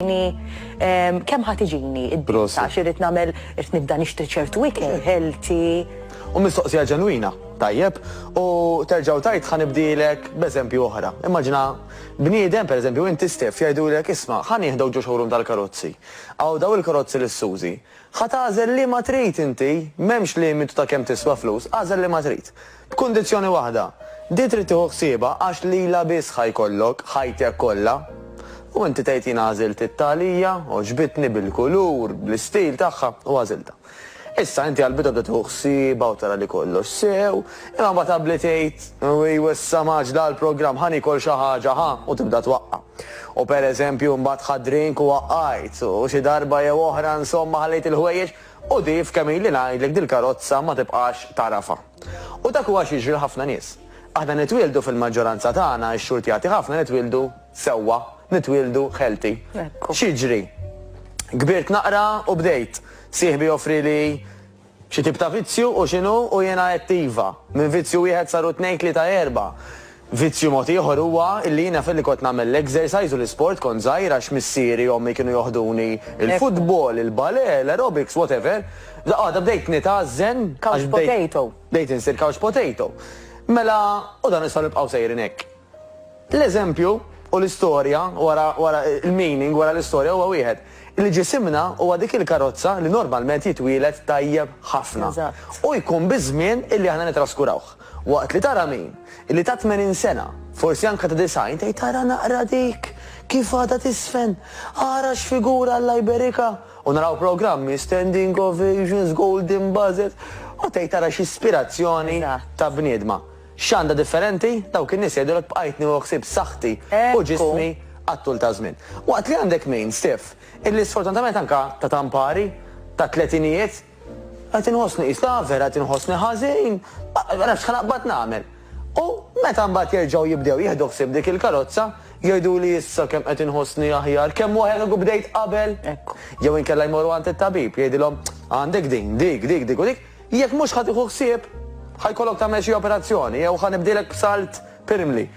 Ehm, kemm ħat iġini id-disa xirrit namel irrit nibda nixtri ċertu ikel, healthy. U mistoqsija ġenwina, tajjeb, u terġaw tajt ħanibdilek b'eżempju oħra. Immaġina, bniedem, per eżempju, inti stef jgħidulek isma, ħan jihdaw ġo xogħrum tal-karozzi. Għaw daw il-karozzi l suzi Ħatażel li ma trid inti, memx limitu ta' kemm tiswa flus, għażel li ma trid. B'kundizzjoni waħda, din trid tieħu ħsiebha għax lilha biss ħa jkollok ħajtek kollha. U inti tgħid jien għażilt it-tagħlija, għoġbitni bil-kulur, bl-istil tagħha u għażiltha. Issa inti għal bidu bda tieħu ħsiebha u tara li kollox sew, imma mbagħad abli tgħid, ewwiew issa m'għaġġla għall-programm ħa niekol xi ħaġa ħa u tibda twaqqa'. U pereżempju mbagħad ħadt drink u waqqajt, u xi darba jew oħra insomma ħallejt il-ħwejjeġ, U di f'kemm ili ngħidlek dil-karozza ma tibqax tagħrafha. U dak huwa xi jiġri l-ħafna nies. Aħna nitwieldu fil-maġġoranza tagħna, ix-xurtjati ħafna nitwieldu sewwa, nitwieldu healthy. X'jiġri? Kbirt naqra u bdejt. Sieħbi joffrili xi tip ta' vizzju u x'inhu u jiena għedt iva. Minn vizzju wieħed saru tnejn tlieta erba'. Vizzju mod ieħor huwa illi jiena filli kont nagħmel l-exercise u l-isport kont żgħir għax missieri u ommi kienu joħduni il-football, il-ballet, l-aerobics, whatever, f'daqqa waħda bdejt nitgħażżen għax bdejt bdejt insir couch potato. Mela u dan nistgħu nibqgħu sejrin hekk. L-eżempju u l-istorja wara wara l-meaning wara l-istorja huwa wieħed, illi ġisimna huwa dik il-karozza li normalment jitwieled tajjeb ħafna u jkun biż-żmien illi aħna nitraskurawh. Waqt li tara min, illi ta' tmenin sena, forsi anke ta' disgħin, tgħid ara naqra dik, kif għadha tiżfen, ara x'figura Alla jberikha, u naraw programmi, standing ovations, golden buzzers, u tgħid ara x'ispirazzjoni ta' bniedma. X'għandha differenti? Dawk in-nies jgħidulek bqajtni u ħsibt saħħti u ġismi għat-tul ta' żmien. Waqt li għandek min, Steph, illi sfortunatament anke ta' ta' mpari, tat-tletinijiet, Qed inħossni qis l-għaver, qed inħossni ħażin, ma nafx x'ħanaqbad nagħmel. U meta mbagħad jerġgħu jibdew jieħdu ħsieb dik il-karozza, jgħiduli issa kemm qed inħossni aħjar, kemm aħjar kieku bdejt qabel. Jew inkella jmorru għand it-tabib, jgħidilhom għandek din, dik, dik, dik u dik, jekk mhux ħa tieħu ħsieb, ħa jkollok tagħmel xi operazzjoni jew ħa nibdielek b'salt pirmli.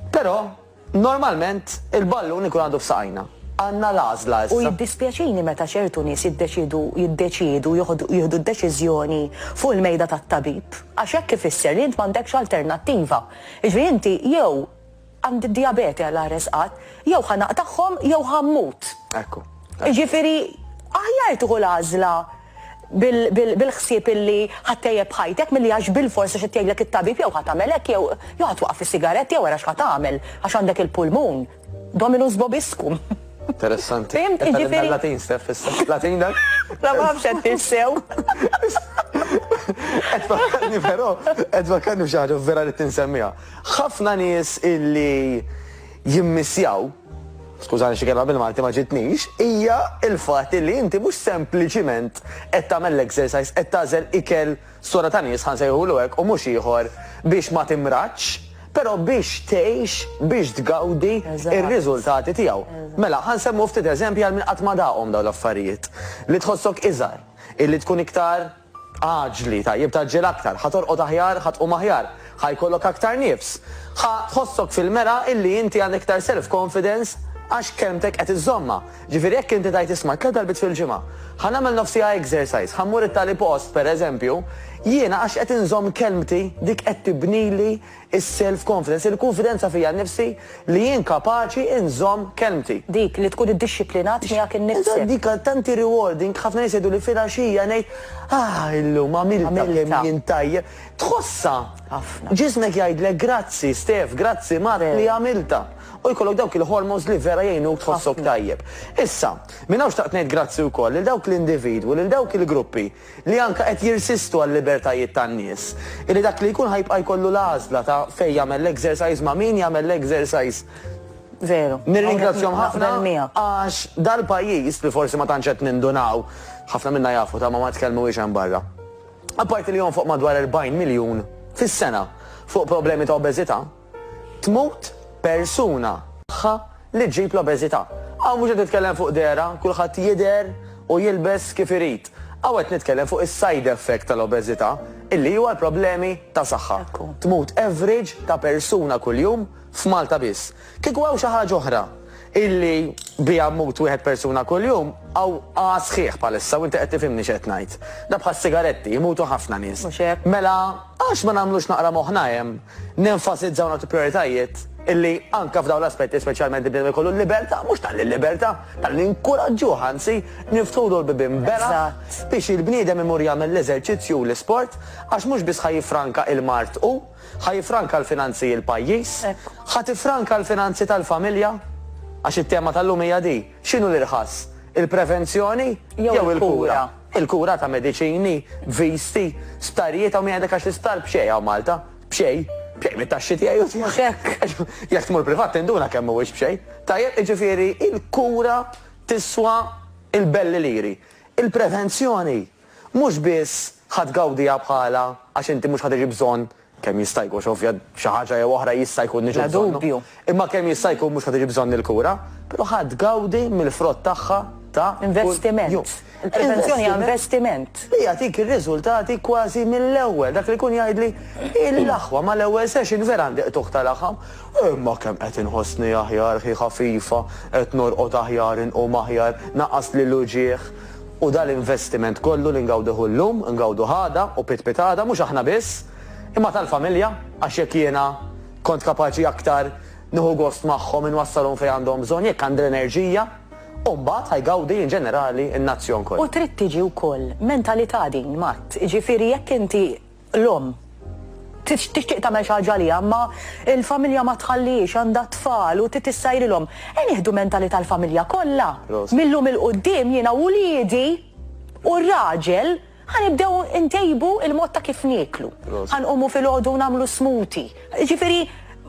Però. Normalment, il-ballun ikun għadu f'saqajna. Għandna l-għażla issa. U jiddispjaċini meta ċertu nies jiddeċiedu jiddeċiedu joħdu jieħdu d-deċiżjoni fuq il-mejda tat-tabib, għax hekk ifisser li int m'għandekx alternattiva. Jiġifieri inti jew għandi d-dijabete Alla jaħres qatt, jew ħa naqtagħhom jew ħa mmut. Ekku. Jiġifieri aħjar tieħu l-għażla bil-ħsieb illi ħa ttejjeb ħajtek milli għax bilfors għax qed jgħidlek it-tabib jew ħa tagħmel hekk jew jew ħa twaqqaf is-sigaretti jew ara x'ħa tagħmel għax għandek il-pulmun. Dominus vobiscum. Interessanti. Fim, ġifieri. Latin, Steph, issa. Latin dak? La ma nafx qed tissew. Qed fakkarni però, qed fakkarni f'xi ħaġa vera li tinsemmiha. Ħafna nies illi jimmissjaw skużani xi kelma bil-Malti ma ġietnix, hija l-fatt illi inti mhux sempliċiment qed tagħmel l-exercise, qed tagħżel ikel sura ta' nies, ħa nsejħulu hekk, u mhux ieħor, biex ma timradx, però biex tgħix, biex tgawdi r-riżultati tiegħu. Mela, ħa nsemmu ftit eżempji għal min qatt ma daqhom dawn l-affarijiet. Li tħossok iżgħar, illi tkun iktar, Aġli, tajjeb tgħaġġel aktar, ħa torqod aħjar, ħa tqum aħjar, ħa jkollok aktar nifs, ħa tħossok fil-mera illi inti għandek iktar self confidence għax kelmtek qed iżżommha. Ġifieri jekk inti tgħid isma' tliet darbiet fil-ġimgħa, ħa nagħmel nofs siegħa exercise, ħa mmur it-tali post, pereżempju, jiena għax qed inżomm kelmti dik qed tibnili Is-self confidence, il-kunfidenza fija nnifsi li jien kapaċi nżomm kelmti. Dik li tkun iddixxiplinat miegħek innifsek. Eżatt, dik għal tanti rewarding, ħafna nies jgħiduli filgħaxija ngħid, ah illum għamiltha kemm jien tajjeb. Tħossha. Ħafna. Ġismek jgħidlek grazzi Stef, grazzi Mark li għamiltha. U jkollok dawk il-hormones li vera jgħinuk tħossok tajjeb. Issa, minn hawn xtaqt ngħid grazzi wkoll lil dawk l-individwi, lil dawk il-gruppi, li anke qed jirsistu għal-libertajiet tan-nies, illi dak li jkun ħa jibqa' jkollu l-għażla ta' fejn jagħmel l-exercise, ma' min jagħmel l-exercise. Veru. Nirringrazzjahom ħafna għax dal-pajjiż, li forsi ma tantx qed nindunaw, ħafna minna jafu ta' ma ma tkellmuhiex hemm barra, apparti li jonfoq madwar 40 miljun fis-sena fuq problemi ta' obeżità, Tmut persuna. Tagħha li ġġib l-obeżità. Hawn mhux qed nitkellem fuq dehra, kulħadd jidher u jilbes kif irid. Hawn qed nitkellem fuq is-side effect tal-obeżità, illi huwa l-problemi ta' saħħa. Tmut average ta' persuna kuljum f'Malta biss. Kieku hawn xi ħaġa oħra illi biha mmut wieħed persuna kuljum, hawn għaha sħiħ bħalissa u inti qed tifhimni x'qed ngħid. Da bħas-sigaretti, jmutu ħafna nies. Mhux hekk. Mela għax ma nagħmlux naqra moħħna hemm? Nenfasizza u nagħtu prijoritajiet illi anke f'dawn l-aspetti speċjalment il-bniedem ikollu l-libertà, mhux talli l-libertà, talli ninkuraġġuh anzi, niftħulu l-bibien bela' biex il-bniedem imur jagħmel l-eżerċizzju u l-isport għax mhux biss ħa jiffranka il-mard hu, ħa jiffranka l-finanzi l-pajjiż, ħa tiffranka l-finanzi tal-familja, għax it-tema tal-lum hija di. X'inhu l-irħas? Il-prevenzjoni jew il-kura? Il-kura ta' mediċini, viżti, sptarijiet hawn min jgħidlek għax l-isptar b'xejn hawn Malta. B'xejn. B'xejn mit-taxxi tiegħi u tiegħek. Jekk tmur privat tinduna kemm mhuwiex b'xejn. Tajjeb, jiġifieri l-kura tiswa l-belli liri. Il-prevenzjoni mhux biss ħa tgawdiha bħalha għax inti mhux ħa tiġi bżonn Kemm jista' jkun, x'ovvja xi ħaġa jew oħra jista' jkun niġu bżonnu. Bla dubju. Imma kemm jista' jkun mhux ħa tiġi bżonn il-kura, però ħa tgawdi mill-frott tagħha ta' kuljum. Investiment. Il-prevenzjoni hija investiment. Li jagħtik ir-riżultati kważi mill-ewwel. Dak li jkun jgħidli, Il-aħwa mal-ewwel session vera għandi qtugħ ta' laħam. Imma kemm qed inħossni aħjar, ħi ħafifa, qed norqod aħjar, inqum aħjar, naqqasli l-uġigħ. U dan l-investiment kollu li ngawduh illum, ngawduh għada u pitpit għada, mhux aħna biss, imma tal-familja, għax jekk jiena kont kapaċi aktar nieħu gost magħhom, inwassalhom fejn għandhom bżonn, jekk għandi l-enerġija, u mbagħad ħa jgawdi in ġenerali n-nazzjon kollu. U trid tiġi wkoll mentalità din, Matt, jiġifieri jekk inti L-omm tixtieq tagħmel xi ħaġa għaliha imma l-familja ma tħallihiex, għandha t-tfal u trid issajrilhom. Ejja nieħdu mentalità l-familja kollha. Mil-lum 'il quddiem jiena u wliedi u r-raġel ħa nibdew intejbu l-mod ta' kif nieklu. Ħa nqumu filgħodu u nagħmlu smoothie. Jiġifieri,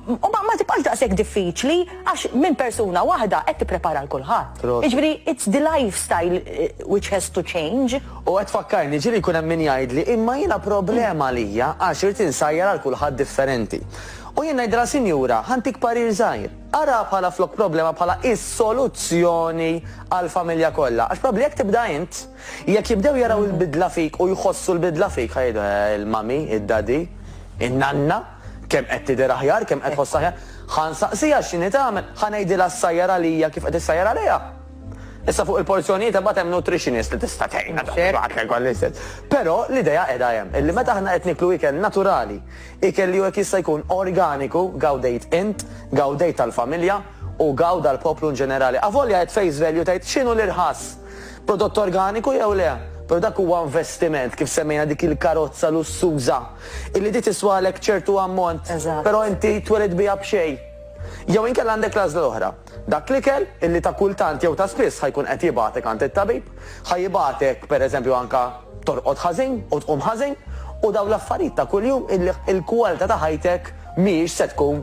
ma ma tibqax daqshekk diffiċli għax minn persuna waħda qed tipprepara 'l kulħadd. Proset. Jiġifieri, it's the lifestyle which has to change. U qed tfakkarni, ġieli jkun hemm min jgħidli, imma jiena problema għalija għax irid insajjar għal kulħadd differenti. U jien ngħidilha, sinjura, ħa ntik parir żgħir, araha bħala flok problema bħala is-soluzzjoni għall-familja kollha, għax probabbli jekk tibda int, Jekk jibdew jaraw il-bidla fik u jħossu l-bidla fik ħa jgħidu, eh, il-mummy, id-daddy, in-nanna, kemm qed tidher aħjar, kemm qed tħoss aħjar. Ħa nsaqsiha x'inhi tagħmel, ħa ngħidilha ssajjar għalija kif qed issajjar għaliha. Issa fuq il-porzjonijiet imbagħad hemm nutritionist li tista' tgħinna Mhux hekk? kulħadd jekk għall istess. Però l-idea qiegħda hemm, illi meta aħna qed niklu ikel naturali, ikel li hu jekk jista' jkun organiku, gawdejt int, gawdejt tal-familja u gawda l-poplu in ġenerali. Avolja qed face value tgħid x'inhu l-irħas. Prodott organiku jew le, però dak huwa investiment, kif semmejna dik il-karozza lussuża, illi di tiswalek ċertu ammont, però inti twelid biha b'xejn. Jew inkella għandek l-għażla l-oħra, dak l-ikel illi ta' kultant jew ta' spiss ħa jkun qed jibgħatek għand it-tabib, ħa jibgħatek pereżempju anke torqod ħażin u tqum ħażin, u dawn l-affarijiet ta' kuljum illi l-kwalità ta' ħajtek mhijiex se tkun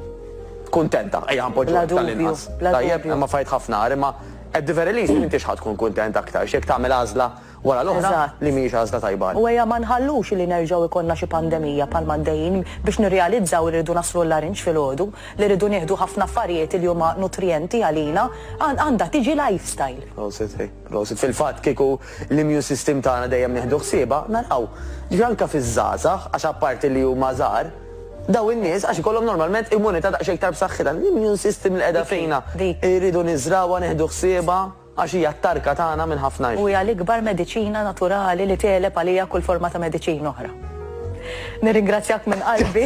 kuntenta, ejja ħa npoġġuha hekk tal-inqas. Bla dubju, bla dubju. Tajjeb, hemm affarijiet ħafna agħar, imma At the very least m'intix ħa tkun kuntent aktarx jekk tagħmel għażla wara l-oħra li mhijiex għażla tajba għalik. U ejja ma nħallux li nerġgħu jkollna xi pandemija bħalma għaddejjin biex nirrealizzaw li rridu naslu l-Larinġ filgħodu, li rridu nieħdu ħafna affarijiet li huma nutrijenti għalina. Għandha tiġi lifestyle. Prosit, ej, prosit. Fil-fatt kieku l-immune system tagħna dejjem nieħdu ħsiebha, naraw. Ġifieri anke fiż-żgħażagħ, għax apparti li huma żgħar, Dawn in-nies għax ikollhom normalment immunità daqsxejn iktar b'saħħitha. L-immune system li qiegħda fina irridu niżrgħuha, nieħdu ħsiebha għax hija t-tarka tagħna minn ħafna xi. U hija l-ikbar mediċina naturali li tegħleb għaliha kull forma ta' mediċina oħra. Nirringrazzjak minn qalbi.